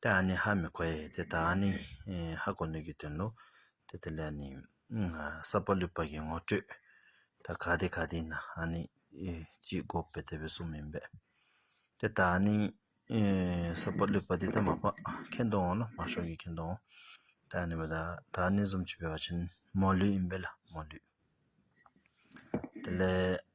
དེ་ཨ་ནི་ཧ་མི་གོ་ཡས་དེ་ད་ཨ་ནི་ཧ་གོ་ནུས་ཀྱི་དོན་ནོ། དེ་ལྟ་ལས་ནི་ས་པ་ལུས་པ་གྱི་ངོ་སྤྲོད་ད་ག་དེ་ག་དེ་ན་ཨ་ནི་གཅིག་འགོག་པའི་དེ་བས་གསུམ་མིན་པས། དེ་ད་ཨ་ནི་ས་པ་ལུས་པ་དེ་ད་མ་པ་ཁེན་ཏོ་འོང་ལ་མ་ཤོག་གི་ཁེན་ཏོ་འོང། དེ་ཨ་ནི་བ་ད་ད་ཨ་ནི་གཟུམ་ཆུ་བས་བ་ཆེན་མོ་ལུས་ཡིན་པས་ལ་མོ་ལུས། དེ་ལས།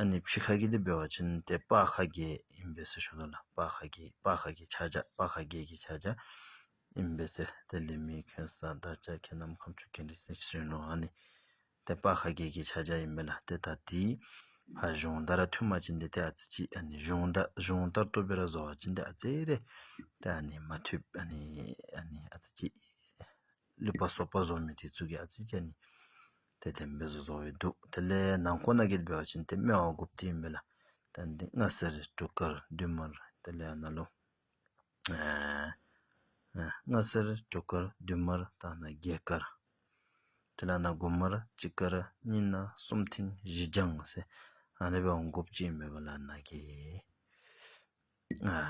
ཨ་ནི་བྱི་ཁ་གི་དེ་སྦེ་བ་ཅན་དེ་དཔའ་ཁ་རྒྱལ་ཨིན་བེ་སེ་ཤོ་ད་ལ་དཔའ་ཁ་རྒྱལ་དཔའ་ཁ་གི་ཆ་བྱ་དཔའ་ཁ་རྒྱལ་གི་ཆ་བྱ་ཨིན་བེ་སེ་དེ་ལི་མི་ཁེན་ས་ད་ཅ་ཁེ་ནམ་ཁམ་ཆུ་ཁེན་རི་སེ་ཤི་རེན་ནོ་ཨ་ནི་དེ་དཔའ་ཁ་རྒྱལ་གི་ཆ་བྱ་ཨིན་བེ་ལ་དེ་ད་དེའི་ཕ་གཞུང་ད་ར་ཐུ་མ་ཅན་དེ་དེ་ཨ་ཙི་ཅི་ཨ་ནི་གཞུང་ད་གཞུང་དར་ཏོ་བེ་ར་བཟོ་བ་ཅན་དེ་ཨ་ཙེ་རེ་དེ་ཨ་ནི་མ་ཐུ་ཨ་ནི་ཨ་ནི་ཨ་ཙི་ཅི་ལུད་པ་སོག་པ་བཟོ་མི་དེ་ཚུ་གི་ཨ་ཙི་ཅི་ཨ་ནི། དེ་སྟེ་མི་གཟུགས་བཟོ་བའི་དུག་དེ་ལས་ནང་ཁོ་ན་གེལ་བའི་བ་ཅན་དེ་སྨེ་བ་དགུ་བརྒྱའི་མི་ལ་དེ་འདི་ལྔ་སེར་དྲུག་དཀར་བདུན་དམར་དེ་ལས་ན་ལོ། ལྔ་སེར་དྲུག་དཀར་བདུན་དམར་ད་ན་བརྒྱད་དཀར་དེ་ལ་ན་དགུ་དམར་གཅིག་དཀར་གཉིས་ན་གསུམ་མཐིང་བཞི་ལྗང་སེར་ཨ་ནི་བ་དགུ་བརྒྱའི་མི་བ་ལ་ན་གེལ།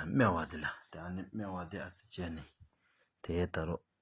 སྨེ་བ་དེ་ལ་དེ་ཨ་ནི་སྨེ་བ་དེ་ཨ་ཙི་བྱས་ནས་དེའི་ད་རོ་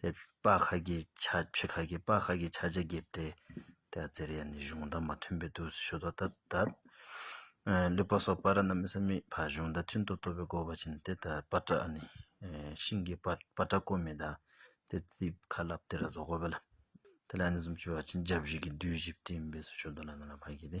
དེ་པ་ཁ་གི་ཆ་ཕྱི་ཁ་གི་པ་ཁ་གི་ཆ་བྱ་གེབ་དེ་དེ་ཨ་ཙེར་ཡ་ནི་གཞུང་བརྡ་མ་མཐུན་པའི་དུས་སུ་ཤོད་དོ་ད་ད་ལུས་པ་སོགས་པ་ར་ན་མི་ས་མི་ཕ་གཞུང་བརྡ་མཐུན་དུ་བཏོད་པའི་གོ་བ་བྱིན་ཏེ་ད་པ་ཏྲ་ཨ་ནི་ཤིང་གི་པ་པ་ཏྲ་ཀོ་མི་ད་དེ་རྩིས་ཁ་བསླབ་དེ་ར་བཟོ་གོ་བ་ལ་དེ་ལ་ཨ་ནི་གསུམ་བཅུ་བ་ཅི་འཇའ་བཞི་གི་བདུད་བཞི་བསྟིམ་པས་སུ་ཤོད་དོ་ལ་ན་ལ་མ་གི་དེ།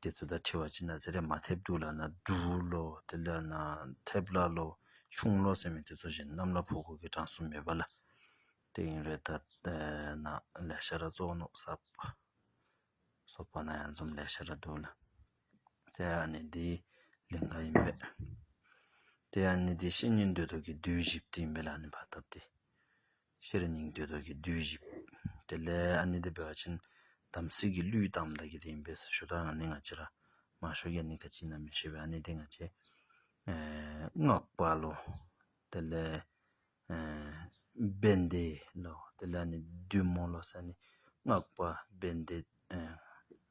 འདི་ཚོ་ད་ཁྲི་བ་ཅི་ན་ཟེར་རེད་མ་ཐེབས་འདུག་ལབ་ན་འདུག་ལོ་དེ་ལབ་ན་ཐེབས་ལ་ལོ་ཆུང་ལོ་ཟེར་མི་དེ་ཚོ་བཞིན་གནམ་ལ་ཕོག་དགོས་ཀི་གྲངས་སུ་མེད་པ་ལ་དེ་ཡིན་རེད་ད་ལྟ་ན་ལས་བྱ་ར་བཙོག་ནོག་ས་སོག་པ་ན་ཡང་འཛོམས་ལས་བྱ་ར་འདུག་ལ་དེ་ཡང་ནི་དེའི་ལིང་ག་ཡིན་པས་དེ་ཡང་ནི་དེ་བཤེས་གཉེན་འདོད་ཐོག་གི་བདུད་བཞི་བསྟི་འབེ་ལ་ནི་བ་ཐབས་ཏེ། ཤེར་སྙིང་ཏོའི་ཐུགས་ཀྱི་བདུད་བཞི། དེ་ལས་ཨ་ནི་ཏི་བེ་ཝ་ཅན། དམ་ཚིག་གི་གླུས་དང་བདག་གི་དེ་ཡིན་པས་སོ་ཞུ་དག་ང་ནི་ང་ཅི་ར། མ་ཞུ་ཀྱ་ནི་ཀ་ཅི་ན་མི་ཤེས་པས་ཨ་ནི་ཏི་ང་ཅི། སྔགས་པ་ལོ། དེ་ལས་བན་དེ་ལོ། དེ་ལས་ཨ་ནི་བདུད་མོ་ལོ། སངས་ནི་སྔགས་པ་བན་དེ།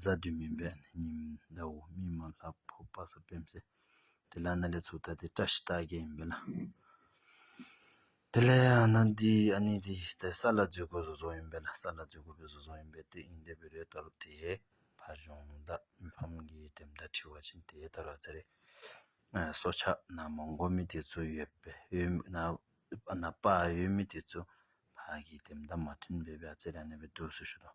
གཟའ་བདུད་མིན་པའི་ཉིན་ཟླ་འོག་མིན་མ་ལྷ་ཕོ་དཔའ་ས་སྤེན་ཚེ་དེ་ལ་གནས་ལས་ཚུགས་ལྟ་དེ་བཀྲ་ཤིས་རྟགས་བརྒྱད་ཡིན་པས་ན། དེ་ལས་གནས་འདི་ཨ་ནི་འདི་ལྟའི་ས་ལ་འཛུལ་དགོས་བཟོ་བཟོ་ཡིན་པས་ན་ས་ལ་འཛུལ་དགོས་པའི་བཟོ་བཟོ་ཡིན་པས་དེ་ཨིན་དེ་བི་རེ་ལྟ་རུ་དེས་ཕ་གཞོན་བདག་མི་ཕམ་གྱིས་དེ་མདའ་ཁྲི་བ་བྱིན་དེ་ལྟར་བ་ཚེ་རེ་སྲོག་ཆགས་ན་མོ་མགོ་མི་དེ་ཚོ་ཡོད་པས་ཡོད་མི་ན་ན་པ་ཡོད་མི་དེ་ཚོ་ཕ་གིས་དེ་མདའ་མ་ཐོན་པས་བ་ཚེ་ར་ནས་བའི་དུས་སུ་ཞུ་དང་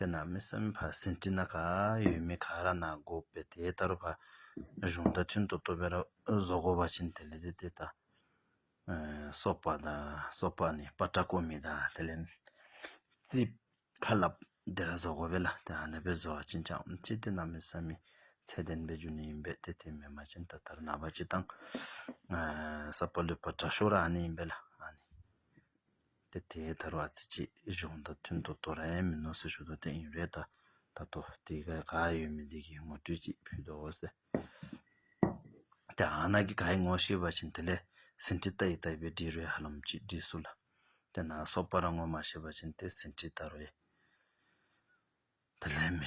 དེ་ན་མི་བསམ་པ་ཟིན་བྲིས་ན་ག་ཡོད་མི་ག་ར་ན་གོ་བས་དེ་ལྟར་བ་གཞུང་རྟ་མཐུན་དུ་བསྟོད་པའི་བཟོ་བཀོད་བ་ཆེན་དེ་ལས་དེ་དེ་དང་སོགས་པ་དང་སོགས་པ་ནི་པ་ཏྲ་ཀོ་མི་དང་དེ་ལས་ཙི་བྷ་ལ་དེ་ར་བཟོ་བཀོད་བས་ལ་དེ་ཧ་ན་བས་བཟོ་བ་ཅན་ཅང་ཅི་དེ་ན་མི་བསམ་མི་ཚད་ལྡན་པའི་རྒྱུ་ནི་ཡིན་པས་དེ་དེ་མི་མ་ཅན་ད་ལྟར་ན་བ་ཅི་དང་ས་པ་ལུ་པ་ཏྲ་ཤོ་ར་ཨ་ནི་ཡིན་པས་ལ་ཨ་ནི། དེ་དེའི་དར་བ་རྩི་བྱེད་གཞུང་དང་མཐུན་ཏོ་ཏོ་ར་ཡན་མི་ནོ་སི་ཞུ་ཏོ་ཏེ་ཨིན་རེད་ད་ད་ཏོ་དེ་ག་ག་ཡོད་མི་འདི་གི་ངོ་སྤྲོད་ཅིག་ཕུལ་ཏོ་འོ་སེ་དེ་ཨ་ན་གི་ག་ཡི་ངོ་ཤེས་པ་བཞིན་དེ་ལས་ཟིན་བྲིས་ལྟ་ཡི་ལྟ་བའི་འབྲི་རོའི་ཧ་ལམ་གྱིས་འབྲི་སུ་ལ་དེ་ན་སོག་པ་ར་ངོ་མ་ཤེས་པ་བཞིན་དེ་ཟིན་བྲིས་ལྟ་རོའི་དེ་ལས་མི